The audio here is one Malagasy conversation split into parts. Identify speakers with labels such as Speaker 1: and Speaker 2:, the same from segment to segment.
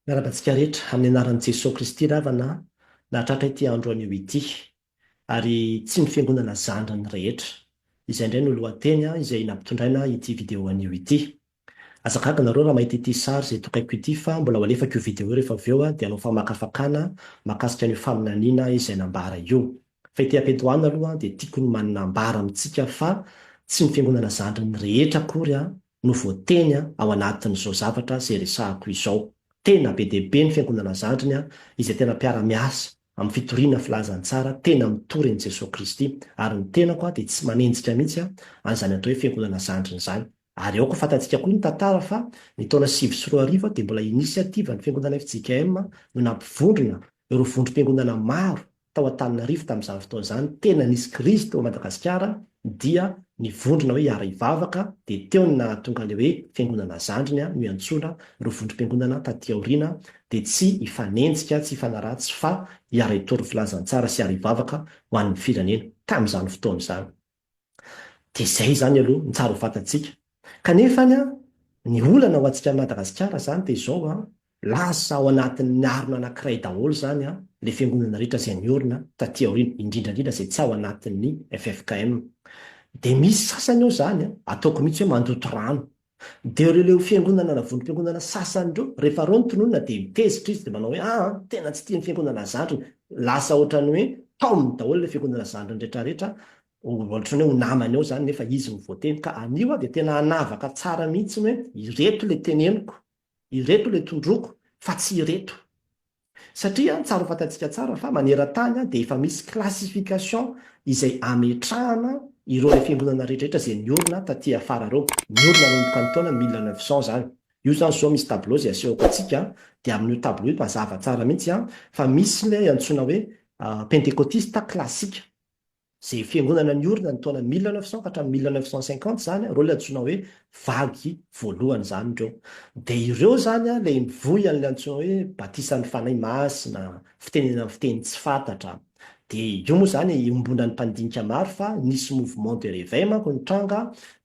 Speaker 1: Miarahaba antsika rehetra amin'ny anaran'i Jesoa Kristy ravana nahatratra ity andro anio ity. Ary tsy ny fiangonana zandriny rehetra. Izay indray no lohateny izay nampitondraina ity video anio ity. Aza gaga nareo raha mahita ity sary izay tokaiko ity fa mbola ho alefako io video io rehefa avy eo dia hanao famakafakana mahakasika an'io faminaniana izay nambara io. Fa ity ampiantohana aloha dia tiako ny manambara amintsika fa tsy ny fiangonana zandriny rehetra akory no voateny ao anatin'izao zavatra izay resahako izao. Tena be dia be ny Fiangonana zandriny izay tena mpiara-miasa amin'ny fitoriana filazantsara tena mitory an'i Jesoa Kristy ary ny tenako dia tsy manenjika mihitsy an'izany atao hoe Fiangonana zandriny izany. Ary aoka fantatsika koa ny tantara fa ny taona sivy sy roa arivo dia mbola inisiativan'ny Fiangonana fjkm no nampivondrona ireo vondrom-piangonana maro tao Antananarivo tamin'izany fotoana izany, tena nisy krizy teo Madagasikara dia ny vondrona hoe Hiara Hivavaka dia teo no nahatonga ilay hoe Fiangonana Zandriny no iantsoana ireo vondrom-piangonana taty aoriana dia tsy hifanenjika, tsy hifanaratsy fa hiara-hitory filazantsara sy hiara-hivavaka ho an'ny firenena, tamin'izany fotoana izany. Dia izay izany aloha ny tsara ho fantatsika. Kanefa any an, ny olana ho antsika Madagasikara izany dia izao an, lasa ao anatin'ny harona anankiray daholo izany an, ilay fiangonana rehetra izay niorina taty aoriana, indrindra indrindra izay tsy ao anatin'ny ffkm. Dia misy sasany ao izany an, ataoko mihitsy hoe mandoto rano. Dia ireo leo fiangonana na vondrom-piangonana sasany ireo, rehefa ireo no tononina dia mitezitra izy dia manao hoe, aa, tena tsy tia ny fiangonana zandriny. Lasa ohatran'ny hoe taominy daholo ilay fiangonana zandriny rehetrarehetra, ohatran'ny hoe ho namany ao izany nefa izy no voateny. Ka anio aho dia tena hanavaka tsara mihitsy ny hoe ireto ilay teneniko, ireto ilay tondroiko fa tsy ireto. Satria tsara ho fantantsika tsara fa maneran-tany dia efa misy classification izay ametrahana ireo ilay fiangonana rehetra rehetra izay niorina taty afara ireo. Niorina nanomboka ny taona mille neuf cents izany. Io izany izao misy tableau izay asehoko antsika dia amin'io tableau io mazava tsara mihitsy fa misy ilay antsoina hoe pentekotista classique. Izay fiangonana niorina ny taona mille neuf cent ka hatramin'ny mille neuf cent cinquante izany ireo ilay antsoina hoe vague voalohany izany ireo. Dia ireo izany ilay mivoy an'ilay antsoina hoe batisan'ny Fanahy Masina, fitenenana fiteny tsy fantatra. Dia io moa izany iombonan'ny mpandinika maro fa nisy mouvement de réveil manko nitranga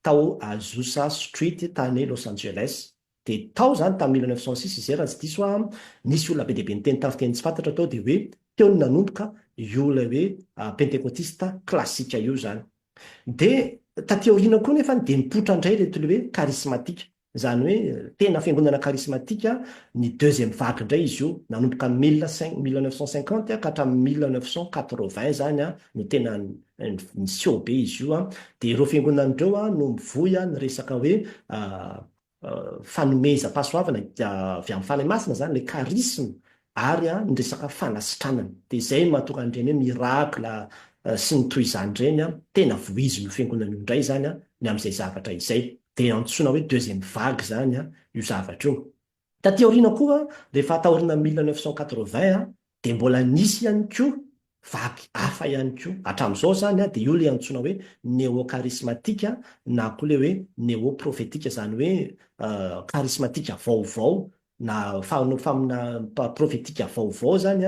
Speaker 1: tao Azusa Street tany Los Angeles. Dia tao izany tamin'ny mille neuf cent six izay raha tsy diso aho, nisy olona be dia be niteny tamin'ny fiteny tsy fantatra tao dia hoe teo no nanomboka io ilay hoe pentekotista klasika io izany. Dia taty aoriana koa nefany dia nipoitra indray ireto ilay hoe karismatika, izany hoe tena fiangonana karismatika, ny deuxième vague indray izy io, nanomboka mille cinq, mille neuf cent cinquante ka hatramin'ny mille neuf cent quatre-vingts izany no tena niseho be izy io. Dia ireo fiangonana ireo no mivoy ny resaka hoe fanomezam-pahasoavana avy amin'ny Fanahy Masina izany, ilay charisme, ary ny resaka fanasitranana. Dia izay no mahatonga an'ireny hoe miracle sy ny toy izany ireny tena vohizin'io Fiangonana io indray izany ny amin'izay zavatra izay. Dia antsoina hoe deuxième vague izany io zavatra io. Taty aoriana koa, rehefa taorian'ny mille neuf cent quatre-vingts, Dia mbola nisy ihany koa vaky hafa ihany koa, hatramin'izao izany dia io ilay antsoina hoe neôkarismatika na koa ilay hoe neôprôfetika, izany hoe karismatika vaovao na faminaniana prôfetika vaovao izany,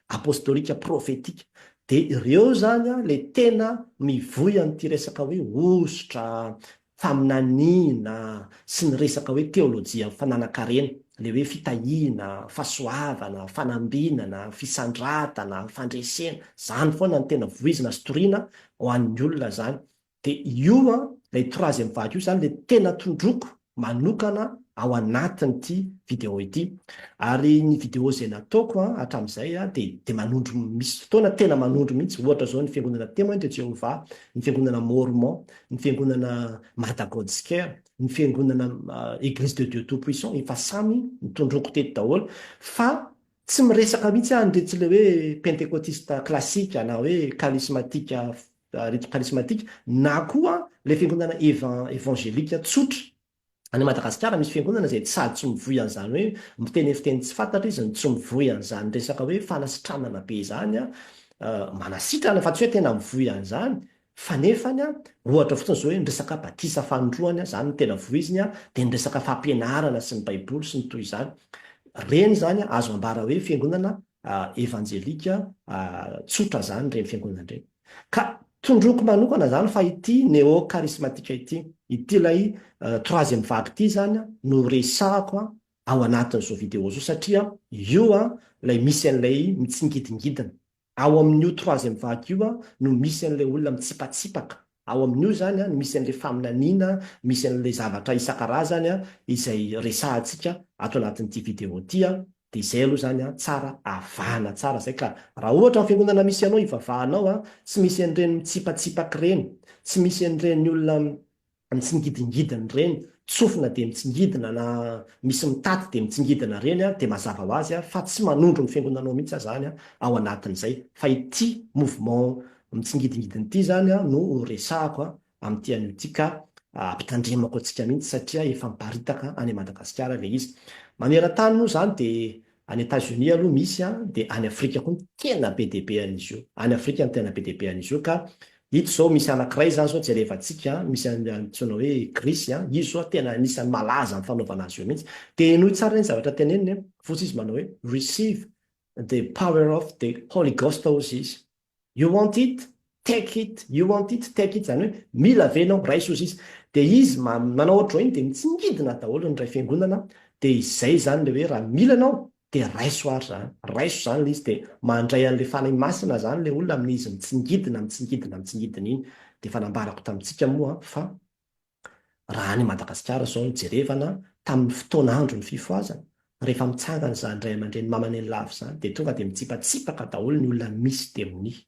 Speaker 1: apôstôlika prôfetika. Dia ireo izany ilay tena mivoy an'ity resaka hoe hosotra, faminaniana sy ny resaka hoe teolojia fananan-karena, ilay hoe fitahiana, fahasoavana, fanambinana, fisandratana, fandresena, izany foana no tena voizina sy toriana ho an'ny olona izany. Dia io an, ilay troisième vague io izany ilay tena tondroiko manokana ao anatin'ity vidéo ity. Ary ny vidéo izay nataoko an, hatramin'izay an, dia dia manondro, misy fotoana tena manondro mihitsy, ohatra izao ny Fiangonana Témoin de Jéhovah, ny Fiangonana Mormon, ny fiangonana Mada God's Care, ny fiangonana Eglise de Dieu Tout-Puissant, efa samy nitondroako teto daholo, fa tsy miresaka mihitsy aho an'iretsy ilay hoe pentekotista klasika na hoe karismatika, ireto karismatika, na koa ilay fiangonana evangelika tsotra. Any Madagasikara misy fiangonana izay tsy sady tsy mivoy an'izany hoe miteny fiteny tsy fantatra izy no tsy mivoy an'izany resaka hoe fanasitranana be izany an, manasitrana fa tsy hoe tena mivoy an'izany fa nefany an, ohatra fotsiny izao hoe ny resaka batisa fanindroany an, izany no tena voiziny an, dia ny resaka fampianarana sy ny baiboly sy ny toy izany, ireny izany an azo ambara hoe fiangonana evanjelika tsotra izany ireny fiangonana ireny. Ka tondroiko manokana izany fa ity néo-charismatique ity, ity ilay troisième vague ity izany no resahako ao anatin'izao vidéo izao satria io ilay misy an'ilay mitsingidingidina. Ao amin'io troisième vague io no misy an'ilay olona mitsipatsipaka, ao amin'io izany no misy an'ilay faminaniana, misy an'ilay zavatra isan-karazany izay resahantsika ato anatin'ity vidéo ity Dia izay aloha izany an, tsara avahana tsara izay ka raha ohatra ny fiangonana misy anao ivavahanao an, tsy misy an'ireny mitsipatsipaky ireny, tsy misy an'ireny olona mitsingidingidina ireny, tsofina dia mitsingidina na misy mitaty dia mitsingidina ireny an, dia mazava ho azy fa tsy manondro ny fiangonanao mihitsy izany an, ao anatin'izay. Fa ity mouvement mitsingidingidina ity izany an no ho resahako an, amin'ity anio ity ka ampitandremako antsika mihitsy satria efa miparitaka any Madagasikara ilay izy. Maneran-tany moa izany dia any Etazonia aloha misy an, dia any Afrika koa no tena be dia be an'izy io. Any Afrika no tena be dia be an'izy io ka ito izao misy anankiray izany izao jerevantsika an, misy an'ny antsoina hoe Grisy an, izy izao tena anisan'ny malaza amin'ny fanaovana azy io mihitsy. Dia henoy tsara ny zavatra teneniny an, fotsy izy manao hoe Receive the power of the Holy Ghost hozy izy. You want it? Take it! You want it? Take it! Izany hoe, mila ve ianao? Raiso izy izy. Dia izy ma, manao ohatr'izao iny dia mitsingidina daholo ny iray fiangonana, dia izay izany ilay hoe raha mila ianao dia raiso ary izany. Raiso izany ilay izy dia mandray an'ilay Fanahy Masina izany ilay olona amin'izy mitsingidina, mitsingidina, mitsingidina iny. Dia efa nambarako tamintsika moa fa Raha any Madagasikara izao no jerevana tamin'ny fotoan'andron'ny fifohazana, rehefa mitsangana izany ray aman-dreny mamaneny lava izany dia tonga dia mitsipatsipaka daholo ny olona misy demonia.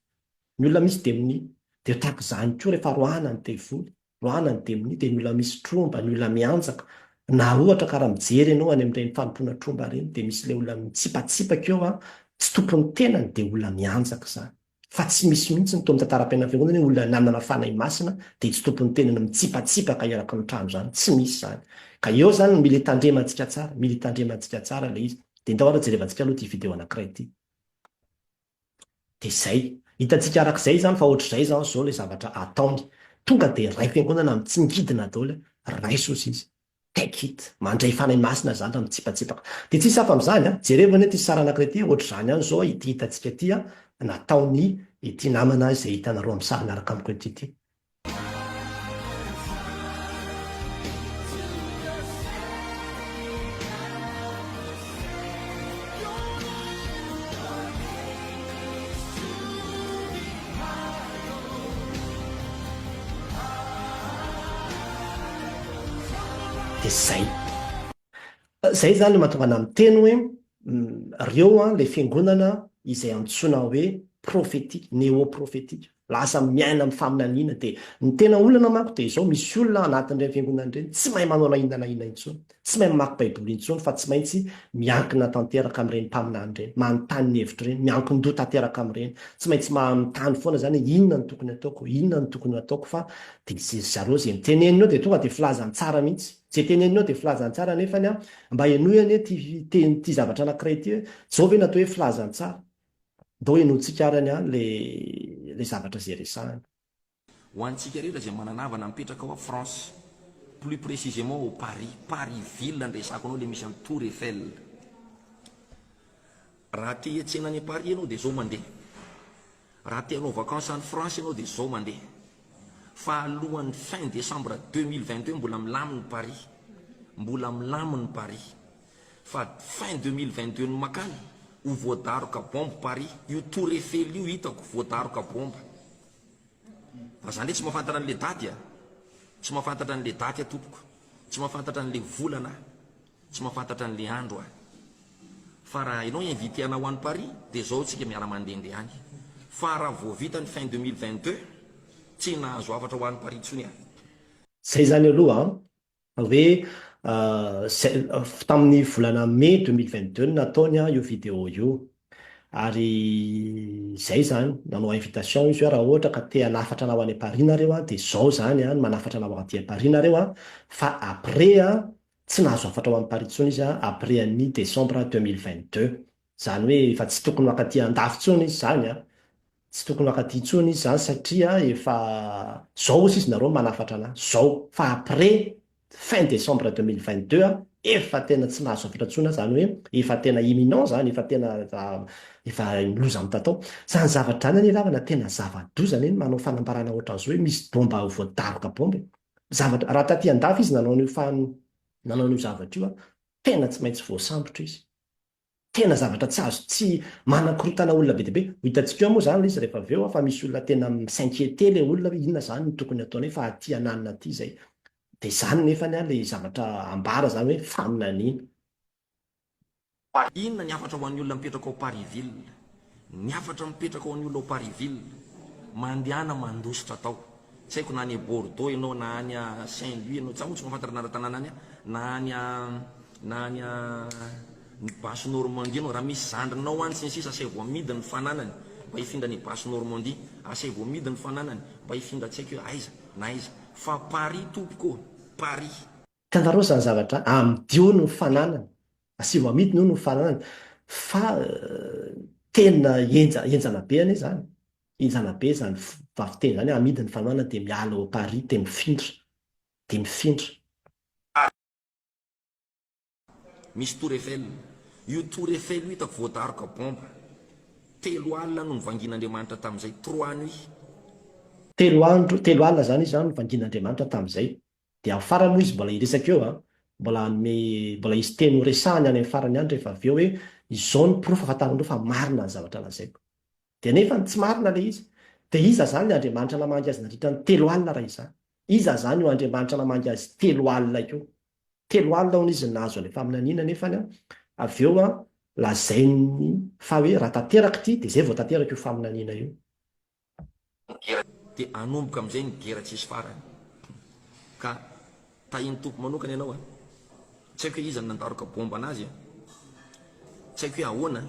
Speaker 1: Ny olona misy demonia. Dia tahaka izany koa rehefa roahana ny devoly, roahana ny demonia dia ny olona misy tromba, ny olona mianjaka. Na ohatra ka raha mijery ianao any amin'ireny fanompoana tromba ireny dia misy ilay olona mitsipatsipaka eo an, tsy tompon'ny tenany dia olona mianjaka izany. fa tsy misy mihitsy ny tao amin'ny tantaram-piainam-piangonana hoe olona nanana Fanahy Masina dia tsy tompon'ny tenany mitsipatsipaka eraky ny trano izany, tsy misy izany. Ka eo izany no mila hitandremantsika tsara, mila hitandremantsika tsara ilay izy. Dia ndao ary jerevantsika aloha ity video anankiray ity. Dia izay. Hitantsika araka izay izany fa ohatr'izay izany izao ilay zavatra ataony. Tonga dia raiso fiangonana amin'ny tsy ngidina daholo hoe raiso hozy izy. Take it! Mandray Fanahy Masina zany raha mitsipatsipaka. Dia tsisy hafa amin'izany an! Jereo anie ity sary anankiray ity, ohatr'izany ihany izao ity hitantsika ity an, nataon'i ity namana izay hitanareo amin'ny sary miaraka amiko eto ity. dia izay. Izay izany no mahatonga anà miteny hoe ireo ilay fiangonana izay antsoina hoe profetika, neoprofetika, lasa miaina amin'ny faminaniana. Dia ny tena olana manko dia izao, misy olona anatin'ireny fiangonana ireny tsy mahay manao na inona na inona intsony, tsy mahay mamaky Baiboly intsony fa tsy maintsy miankina tanteraka amin'ireny mpaminany ireny, manontany ny hevitra ireny, miankin-doha tanteraka amin'ireny, tsy maintsy manontany foana izany hoe inona no tokony ataoko, inona no tokony ho ataoko fa Dia izy ry zareo izay mitenenina eo dia tonga dia filazany tsara mihitsy. Izay tenenina eo dia filazany tsara nefany an, mba henoy anie ity fiteny ity zavatra anakiray ity hoe, izao ve no atao hoe filazany tsara? Ndao henointsika ary anie an ilay ilay zavatra izay resahany. Ho
Speaker 2: antsika rehetra izay manana havana mipetraka ao France, plus précisément ao Paris, Paris ville no resahako anao ilay misy an'i Tour Eiffel. Raha te hiantsena any Paris ianao dia izao mandeha. Raha te hanao vacances any France ianao dia izao mandeha. Fa alohan'ny fin décembre deux mille vingt deux mbola milamina i Paris. Mbola milamina i Paris. Fa fin deux mille vingt deux ny makany, ho voadaroka bombe Paris. Io tour Eiffel io hitako voadaroka bombe. Fa za ndray tsy mahafantatra an'ilay daty a. Tsy mahafantatra an'ilay daty aho tompoko. Tsy mahafantatra an'ilay volana aho. Tsy mahafantatra an'i Leandro aho. Fa raha enao inviter anao any Paris dia zao tsika miara mandende any. Fa raha vao vita ny fin deux mille vingt deux tsy nahazo hafatra ho any Paris tsony aho. Zay
Speaker 1: zany aloha an! Fa hoe tamin'ny volana mai deux mille vingt deux no nataony an io video io. Ary zay zany, nanao invitation izy hoe raha ohatra ka te hanafatra anao any Paris nareo an dia zao zany an ny manafatra anao aty Paris nareo an. Fa après an Tsy nahazo hafatra ho an'i Paris intsony izy après an'i décembre deux mille vingt deux. Izany hoe efa tsy tokony ho ankaty Andafy intsony izy izany an! Tsy tokony ho ankaty intsony izy izany satria efa izao osa izy nareo manafatra an'ahy, izao, fa après fin décembre deux mille vingt deux efa tena tsy nahazo hafatra intsony aho, izany hoe efa tena imminent izany, efa tena efa loza mitatao. Izany zavatra izany anie ravana tena zava-doza anie ny manao fanambarana ohatran'izao hoe misy bomba voadaroka bomba e! zavatra, raha taty an-dafy izy nanao an'io fa nanao an'io zavatra io, tena tsy maintsy voasambotra izy. Tena zavatra tsy azo, tsy manakorontana olona be dia be. Ho hitantsika eo moa izany ilay izy rehefa avy eo fa misy olona tena mi-s'inquieter ilay olona hoe inona izany no tokony hataonay fa aty an'alina aty izay. Dia izany nefany ilay zavatra ambara izany hoe faminaniana. Fa
Speaker 2: inona ny hafatra ho an'ny olona mipetraka ao Parisville? Ny hafatra mipetraka ho an'ny olona ao Parisville, mandehana mandositra tao. Tsy haiko na any Bordeaux ianao na any Saint Louis ianao, za moa tsy mahafantatra ny anara-tanàna any, na any na any ny Basse Normandie ianao, raha misy zandrinao any sy ny sisa asaivo amidy ny fananany mba hifindra any Basse Normandie, asaivo amidy ny fananany mba hifindra tsy haiko hoe aiza na aiza. Fa Paris tompoko ô, Paris. Tandaro zany
Speaker 1: zavatra a, amidio ny fananany, asivo amidiny hono ny fananany, fa tena enja, enjana be anie zany, enjana be zany vavi teny zany, amidy ny fananany de miala au Paris de mifindra, de mifindra.
Speaker 2: Misy tour Eiffel. Io tour Eiffel io hitako voadaroka bomba. Telo alina no nivangian'Andriamanitra tamin'izay, trois nuits. Telo
Speaker 1: andro, telo alina zany izy an no nivangian'Andriamanitra tamin'izay. Dia amin'ny farany moa izy mbola hiresaka eo an, mbola hanome, mbola hisy teny ho resahany any amin'ny farany any rehefa avy eo hoe izao ny porofo ahafantaranareo fa marina ny zavatra lazaiko. Dia nefany tsy marina ilay izy. Dia iza izany ny Andriamanitra namangy azy nandritra ny telo alina raha izany? Iza izany io Andriamanitra namangy azy telo alina io? Telo alina hono izy no nahazo an'ilay faminaniana nefany an, avy eo an, lazainy fa hoe raha tanteraka ity dia izay vao tanteraka io faminaniana io. ny gera.
Speaker 2: Dia hanomboka amin'izay ny gera tsisy farany. Ka tahin'ny Tompo manokana ianao a! Tsy haiko hoe iza no nandaroka bomba an'azy a! Tsy haiko hoe ahoana a!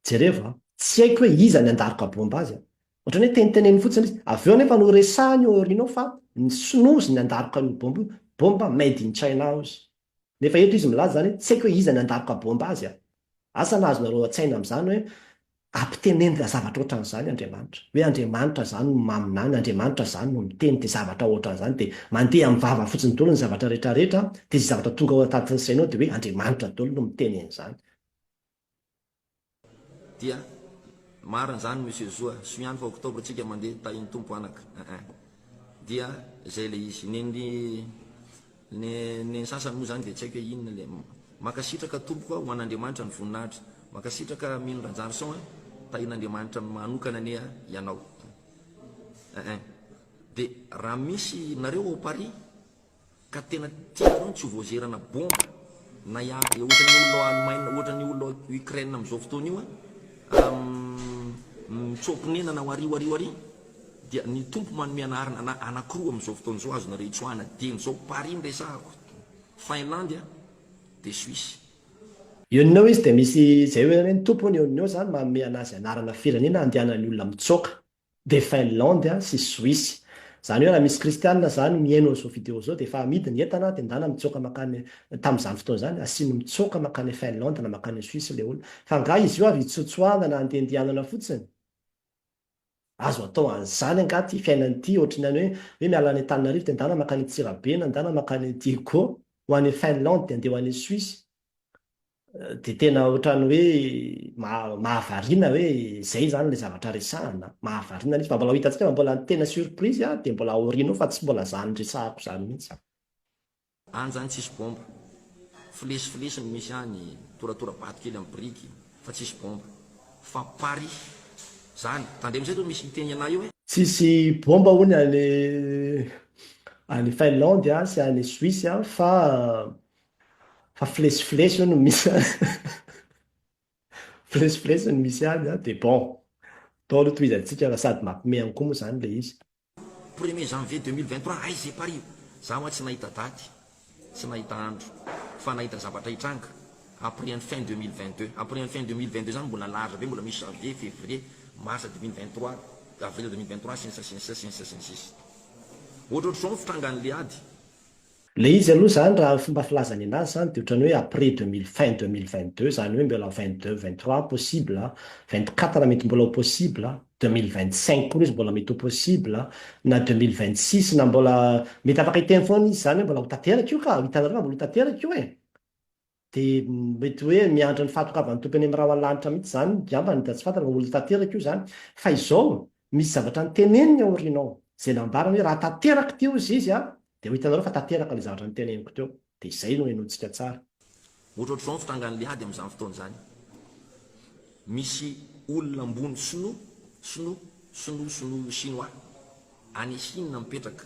Speaker 2: Jerevo
Speaker 1: a! Tsy haiko hoe iza ny handaroka bomba azy a! Ohatran'ny hoe teniteneniny fotsiny izy. Avy eo anefa no resahiny eo aoriana eo fa ny Sinoa hozy ny nandaroka an'io bomba io. Bomba made in China hozy. Nefa eto izy milaza izany hoe tsy haiko hoe iza nandaroka baomba azy a! Asa na azonareo an-tsaina amin'izany hoe ampitenenina zavatra ohatran'izany Andriamanitra? Hoe Andriamanitra izany no maminany, Andriamanitra izany no miteny dia zavatra ohatran'izany dia mandeha amin'ny vava fotsiny daholo ny zavatra rehetrarehetra dia izay zavatra tonga ao an-tatin'ny sainao dia hoe Andriamanitra daholo no miteny an'izany.
Speaker 2: Dia marina izany Monsieur Zoa, soa ihany fa octobre tsika mandeha tahin'ny Tompo anaka eeh. Dia zay ilay izy. Ny ny ny ny sasany moa izany dia tsy haiko hoe inona ilay umm. Mankasitraka tompoko a, ho an'Andriamanitra ny voninahitra. Mankasitraka Mino Rajarison a, tahin'Andriamanitra manokana anie ianao eeh. Dia raha misy, nareo ao Paris? Ka tena tianareo ny tsy ho voazerana bomba na ya ya ohatra ny olona ao Alemaina ohatra ny olona ao Ukraine amin'izao fotoana io a umm mitsoa-ponenana ao ario ario ary dia ny Tompo manome anarana ana anankiroa amin'izao fotoana izao azonareo itsoahana dieny izao Paris no resahako Finlandy a dia Suisse. Unio
Speaker 1: izy dia misy izay hoe ny Tompo hono Unio izany manome anazy anarana firenena andehanan'ny olona mitsoaka. de Finlande sy Suisse. Zany hoe raha misy kristianina zany mihaino an'izao video zao de efa amidy ny entana de ndana mitsoaka makany tamzany fotoana zany asiany mitsoaka makany Finlande na makany Suisse le olona fa nga izy io avy hitsotsoahana na handeha andihanana fotsiny? Azo atao anzany nga ty fiainana ty ohatry ny any hoe hoe miala any Antananarivo de ndana makany Antsirabe na ndana makany Diego ho any Finlande de andeha ho any Suisse Dia tena ohatran'ny hoe mahavariana hoe izay izany ilay zavatra resahina. Mahavariana mihitsy. Mba mbola ho hitantsika fa mbola tena surprise aho dia mbola aoriana eo fa tsy mbola izany resahako izany mihitsy. Any
Speaker 2: zany tsisy bomba. Flesy flesy no misy any, toratora bato kely am biriky fa tsisy bomba. Fa Paris zany. Tandremo izay zao misy miteny anah eo e. Tsisy bomba
Speaker 1: hono any any Finlande sy any Suisse fa. Fa flesiflesy io no misy any. Flesiflesy no misy any an, dia bon. Atao aloha tohizantsika fa sady mampime an koa moa izany ilay izy. Premier janvier
Speaker 2: deux mille vingt trois aiza i Paris? Za hoa tsy nahita daty, tsy nahita andro, fa nahita zavatra hitranga après ny fin deux mille vingt deux. Après ny fin deux mille vingt deux zany mbola large be, mbola misy janvier, fevrier, mars deux mille vingt trois, avril deux mille vingt trois, sy ny sisa sy ny sisa sy ny sisa sy ny sisa. Ohatrohatr'izao ny fitrangan'ilay ady. Le izy
Speaker 1: aloha zany raha fomba filazany anazy zany de otrany hoe après deux mille fin deux mille vingt deux zany hoe mbola vingt deux vingt trois possible a, vingt quatre mety mbola ho possible a, deux mille vingt cinq koa le izy mbola mety ho possible a, na deux mille vingt six na mbola mety afaka hiteny foana izy zany hoe mbola ho tanteraka io ka, hitanareo fa mbola ho tanteraka io e! Dia mety hoe miandry ny fahatokavan'ny Tompo eny amin'ny rahona lanitra mihitsy izany ngambany dia tsy fantany fa olona tanteraka io izany. Fa izao, misy zavatra noteneniny aoriana ao, izay nambarany hoe raha tanteraka teo izy izy an, dia ho hitanareo fa tanteraka ilay zavatra noteneniko teo. Dia izay no henointsika tsara.
Speaker 2: Ohatrohatr'izao ny fitrangan'ny ady amin'izany fotoana izany. Misy olona ambony sinoa, sinoa, sinoa, sinoa, chinois, any Chine mipetraka.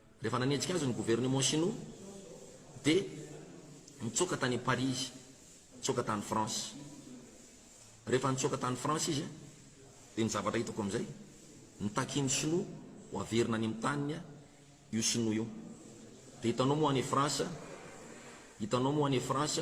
Speaker 2: Rehefa nanenjika azy ny gouvernement Shinoa dia nitsoaka tany Paris izy, nitsoaka tany France. Rehefa nitsoaka tany France izy dia ny zavatra hitako amin'izay, nitaky ny Shinoa ho averina any amin'ny taniny io Shinoa io. Dia hitanao moa any France, hitanao moa any France,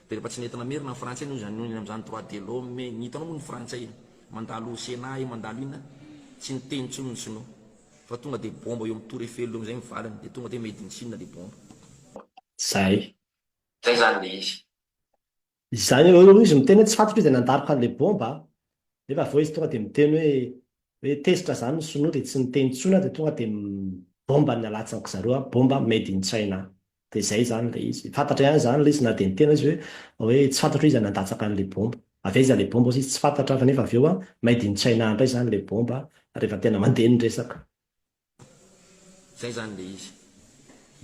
Speaker 2: Dia rehefa tsy nety namerina ny frantsay noho izany noho izany droit de l'homme ny hitanao moa ny frantsay mandalo senat io mandalo inona tsy niteny intsony ny sinoa fa tonga dia bomba eo amin'ny tour eiffel eo amin'izay ny valiny dia tonga dia made in chine ilay bomba. Zay.
Speaker 1: Zay zany
Speaker 2: le izy. Izany
Speaker 1: eo eo izy miteny hoe tsy fantatro izy dia nandaroka an'ilay bomba nefa avy eo izy tonga dia miteny hoe hoe tezitra zany ny sinoa dia tsy niteny intsony dia tonga dia bomba ny nalatsany zareo bomba made in china Dia izay izany ilay izy. Fantatra ihany izany ilay izy na dia niteny aza izy hoe hoe tsy fantatro hoe iza nandatsaka an'ilay bomba. Avy aiza ilay bomba hozy izy tsy fantatra fa nefa avy eo maidintsaina handray izany ilay bomba rehefa tena mandeha ny resaka.
Speaker 2: Izay izany ilay izy.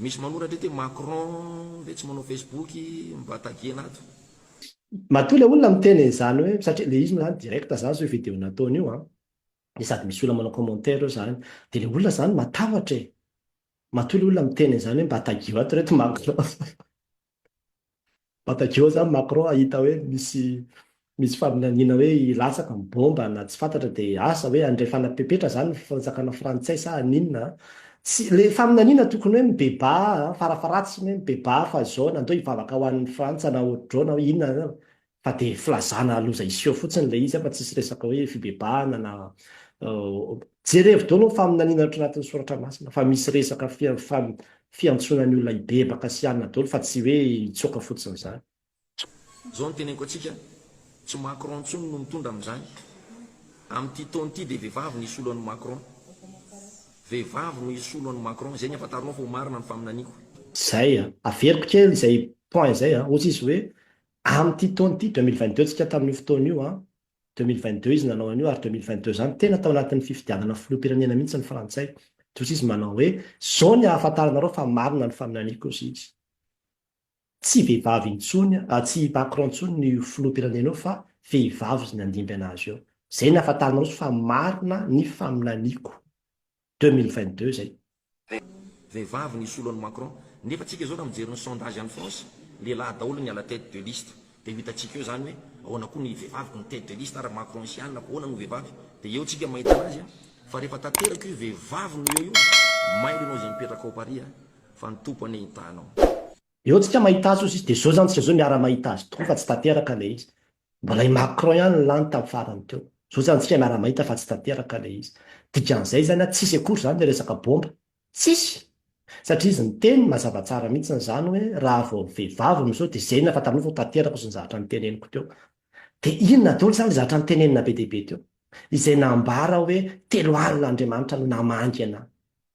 Speaker 2: Misy manoratra eto hoe Macron ve tsy manao Facebook mba taguena ato. Matoa
Speaker 1: ilay olona miteny an'izany hoe satria ilay izy moa izany direct aza azo io video nataony io an. dia sady misy olona manao commentaire eo izany, dia ilay olona izany matahotra e! matoa ilay olona miteny an'izany hoe mba tagio ato reto Macron mba tagio izany Macron hahita hoe misy misy faminaniana hoe hilatsaka ny bomba na tsy fantatra dia asa hoe handray fanapepetra izany ny fanjakana frantsay sa haninona an! tsy, ilay faminaniana tokony hoe mibebaha an! farafaratsiny hoe mibebaha fa izao na ndao hivavaka ho an'ny Frantsa na ohatr'izao na hoe inona na fa dia filazana loza hiseho fotsiny ilay izy fa tsisy resaka hoe fibebahana na jerevo daholo ny faminaniana ao anatin'ny soratra masina fa misy resaka fiantsoana ny olona hibebaka sy hanana daholo fa tsy hoe hitsoaka fotsiny izany. Izao no
Speaker 2: teneniko antsika, tsy Macron intsony no mitondra amin'izany. Amin'ity taona ity dia vehivavy no hisolo an'i Macron. Vehivavy no hisolo an'i Macron, izay ny ahafantaronao fa ho marina ny faminaniako. Izay,
Speaker 1: averiko kely izay point izay, hoy izy hoe, Amin'ity taona ity, 2022, tsika tamin'io fotoana io an, 2022 izy nanao an'io ary 2022 izany, tena tao anatin'ny fifidianana filoham-pirenena mihitsy ny frantsay. Toy izy manao hoe, izao ny ahafantaranareo fa marina ny faminaniako, hozy izy. Tsy vehivavy intsony, tsy i Macron intsony no io filoham-pirenena io fa vehivavy izy nandimby an'azy eo. Izay ny ahafantaranareo fa marina ny faminaniako. Deux mille vingt deux zay. Vehivavy
Speaker 2: ny hisolo an'i Macron. Nefa tsika zao raha mijery ny sondage any France, lehilahy daholo ny à la tête de liste. Dia ho hitantsika eo zany hoe ahoana koa ny vehivavy ko ny tête de liste ary Macron sy anina ko ahoana no vehivavy. Dia eo tsika mahita anazy a. Fa rehefa tanteraka io vehivavy no eo io, mailo enao izay mipetraka ao Paris a. Fa ny Tompo anie hitahanao. Eo tsika
Speaker 1: mahita azy ozy izy. Dia zao zany tsika zao miara mahita azy tokoa fa tsy tanteraka ilay izy. Mbola i Macron ihany no lany tam farany teo. Zao zany tsika miara mahita fa tsy tanteraka le izy. Dikan'izay zany a tsisy akory zany le resaka bomba. Tsisy! Satria izy niteny mazava tsara mihitsiny zany hoe raha vao vehivavy miseho de zay na fantarinao fa tanterako zany zavatra niteneniko teo. De inona daoly zany le zavatra nitenenina be dia be teo? Izay nambara hoe telo alina Andriamanitra no namangy anah.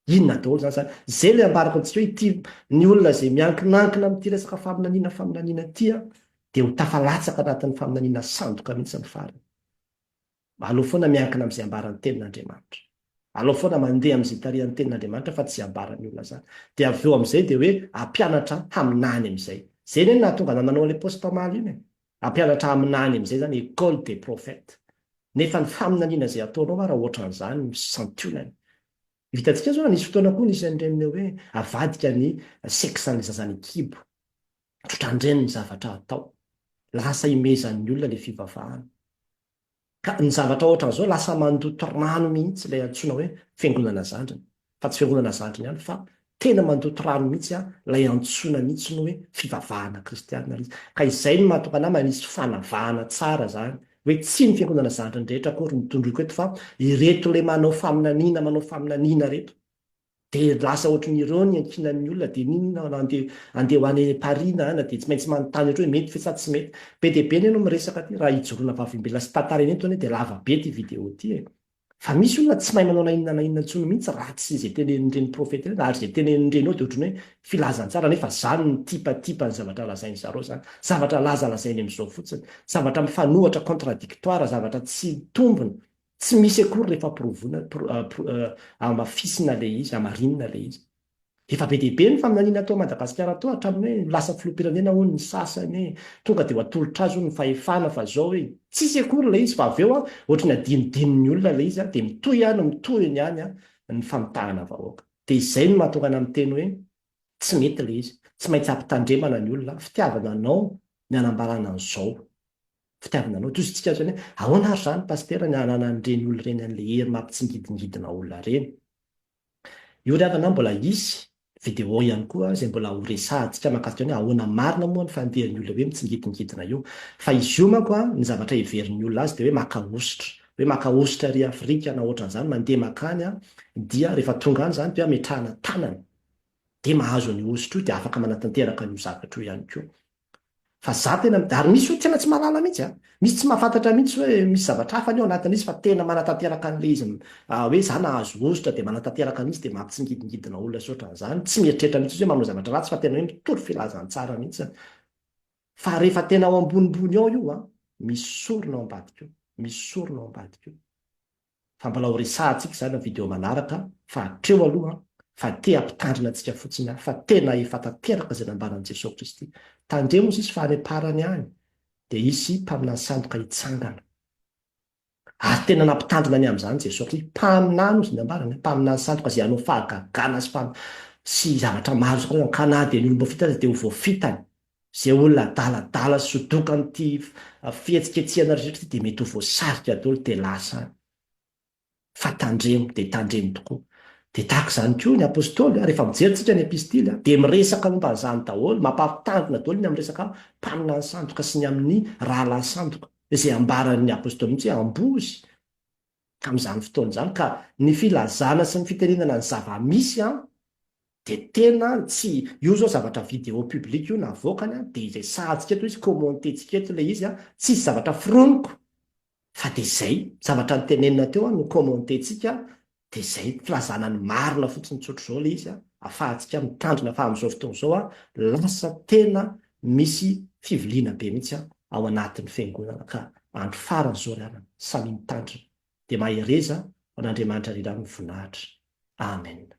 Speaker 1: Inona daholo izany izany? Izay ilay ambarako antsika hoe ity ny olona izay miankinankina amin'ity resaka faminaniana faminaniana ity an, dia ho tafalatsaka anatin'ny faminaniana sandoka mihitsy ny farany. Aleo foana miankina amin'izay ambaran'ny tenin'Andriamanitra. Aleo foana mandeha amin'izay tarihan'ny tenin'Andriamanitra fa tsy ambaran'ny olona izany. Dia avy eo amin'izay dia hoe hampianatra haminany amin'izay. Izay anie no nahatonga anao nanao an'ilay post omaly iny e. Hampianatra haminany amin'izay izany école des prophètes. Nefa ny faminaniana izay ataonao ary raha ohatran'izany ny santionany Ny vitantsika izao, nisy fotoana koa nisy an'ireny hoe avadika ny sexan'ny zaza ny kibo. Tsotrandreny ny zavatra atao. Lasa imehezan'ny olona ilay fivavahana. Ka ny zavatra ohatran'izao lasa mandoto rano mihitsy ilay antsoina hoe fiangonana zandriny. Fa tsy fiangonana zandriny ihany fa Tena mandoto rano mihitsy an, ilay antsoina mihitsy ny hoe fivavahana kristiana ilay izy. Ka izay no mahatonga anah manisy fanavahana tsara izany, hoe tsy ny fiangonana zandriny rehetra akory no tondroiko eto fa ireto ilay manao faminaniana manao faminaniana ireto. Dia lasa ohatry ny ireo ny iankinan'ny olona dia n'inona na andeha andeha ho any Paris na ana dia tsy maintsy manontany ohatry hoe mety ve sa tsy mety. Be dia be anie no miresaka aty raha ijoroana vavimbelona sy tantara eny eto anie dia lava be ity video ity e. Fa misy olona tsy mahay manao na inona na inona intsony mihitsy raha tsy izay tenenin'ireny profeta ireny, ary izay tenenin'ireny ao dia ohatran'ny hoe filazantsara nefa izany no tipatipan'ny zavatra lazain'i zareo izany. Zavatra lazalazainy amin'izao fotsiny. Zavatra mifanohatra, contradictoire, zavatra tsy mitombina, tsy misy akory rehefa provoina, pro, pro, hamafisina ilay izy, hamarinina ilay izy. Efa be dia be ny faminaniana tao Madagasikara tao hatramin'ny hoe ho lasa filoham-pirenena hono ny sasany e, tonga dia ho atolotra azy hono ny fahefana fa zao e, tsisy akory ilay izy fa avy eo ohatry ny adinodinon'ny olona ilay izy dia mitohy ihany mitohiny ihany ny famitahana vahoaka. Dia izay no mahatonga anà miteny hoe tsy mety ilay izy, tsy maintsy hampitandremana ny olona, fitiavana anao ny hanambarana an'izao, fitiavana anao, toy iztsika zany hoe ahoana ary zany Pasitera ny hananan'ireny olona ireny an'ilay hery mampitsingidingidina olona ireny, Io ry havana mbola hisy vidéo ihany koa izay mbola ho resahantsika mahakasika ny hoe ahoana marina moa ny fandehan'ny olona hoe mitsingidingidina io. Fa izy io manko an, ny zavatra heverin'ny olona azy dia hoe maka hosotra. Hoe maka hosotra ery Afrika na ohatran'izany, mandeha mankany an, dia rehefa tonga any izany dia ametrahana tanana. Dia mahazo an'io hosotra io dia afaka manatanteraka an'io zavatra io ihany koa. Fa za tena midà ary misy hoe tena tsy mahalala mihitsy a! Misy tsy mahafantatra mihitsy hoe misy zavatra hafa anie ao anatin'izy fa tena manatanteraka an'ilay izy hoe za nahazo hosotra dia manatanteraka an'izy dia mampitsingidingidina olona sy ohatran'izany, tsy mieritreritra mihitsy izy hoe manao zavatra ratsy fa tena hoe mitory filazantsara mihitsy fa rehefa tena ao ambonimbony ao io a, misy sorona ao ambadika eo, misy sorona ao ambadika eo. fa mbola ho resahantsika izany amin'ny video manaraka fa hatreo aloha fa te hampitandrina antsika fotsiny aho fa tena efa tanteraka izay nambaran'i Jesoa Kristy tandremo ozy izy fa any amparany any dia hisy mpaminany sandoka hitsangana ary tena nampitandrina ny amin'izany Jesoa Kristy mpaminany ozy ny ambarany mpaminany sandoka izay hanao fahagagana sy sy zavatra maro izay ankana dia ny olom-boafitany dia ho voafitany Izay olona adaladala sy dokan'ity fihetsiketsehana rehetra ity dia mety ho voasarika daholo dia lasa any. Fa tandremo dia tandremo tokoa. Dia tahaka izany koa ny Apostoly, rehefa mijery isika ny Epistily, dia miresaka momba an'izany daholo, mampampitandrina daholo ny amin'ny resaka mpaminany sandoka sy ny amin'ny rahalahy sandoka, izay ambaran'ny Apostoly mihitsy hoe ambozy tamin'izany fotoana izany, ka ny filazana sy ny fitenenana ny zava-misy an, de tena tsy, io zao zavatra video public io navoakany a, de izay sahantsika eto izy, commenter-tsika eto le izy a, tsisy zavatra foroniko fa de zay, zavatra nitenenina teo a no commenter-tsika de zay, filazana ny marina fotsiny tsotra zao le izy a, afahantsika mitandrina fa amzao fotoana zao a lasa tena misy fiviliana be mihitsy a ao anatiny fiangonana ka andro farany zao ry anana, samia mitandrina de mahereza ho an'Andriamanitra ry ra no voninahitra. Amen.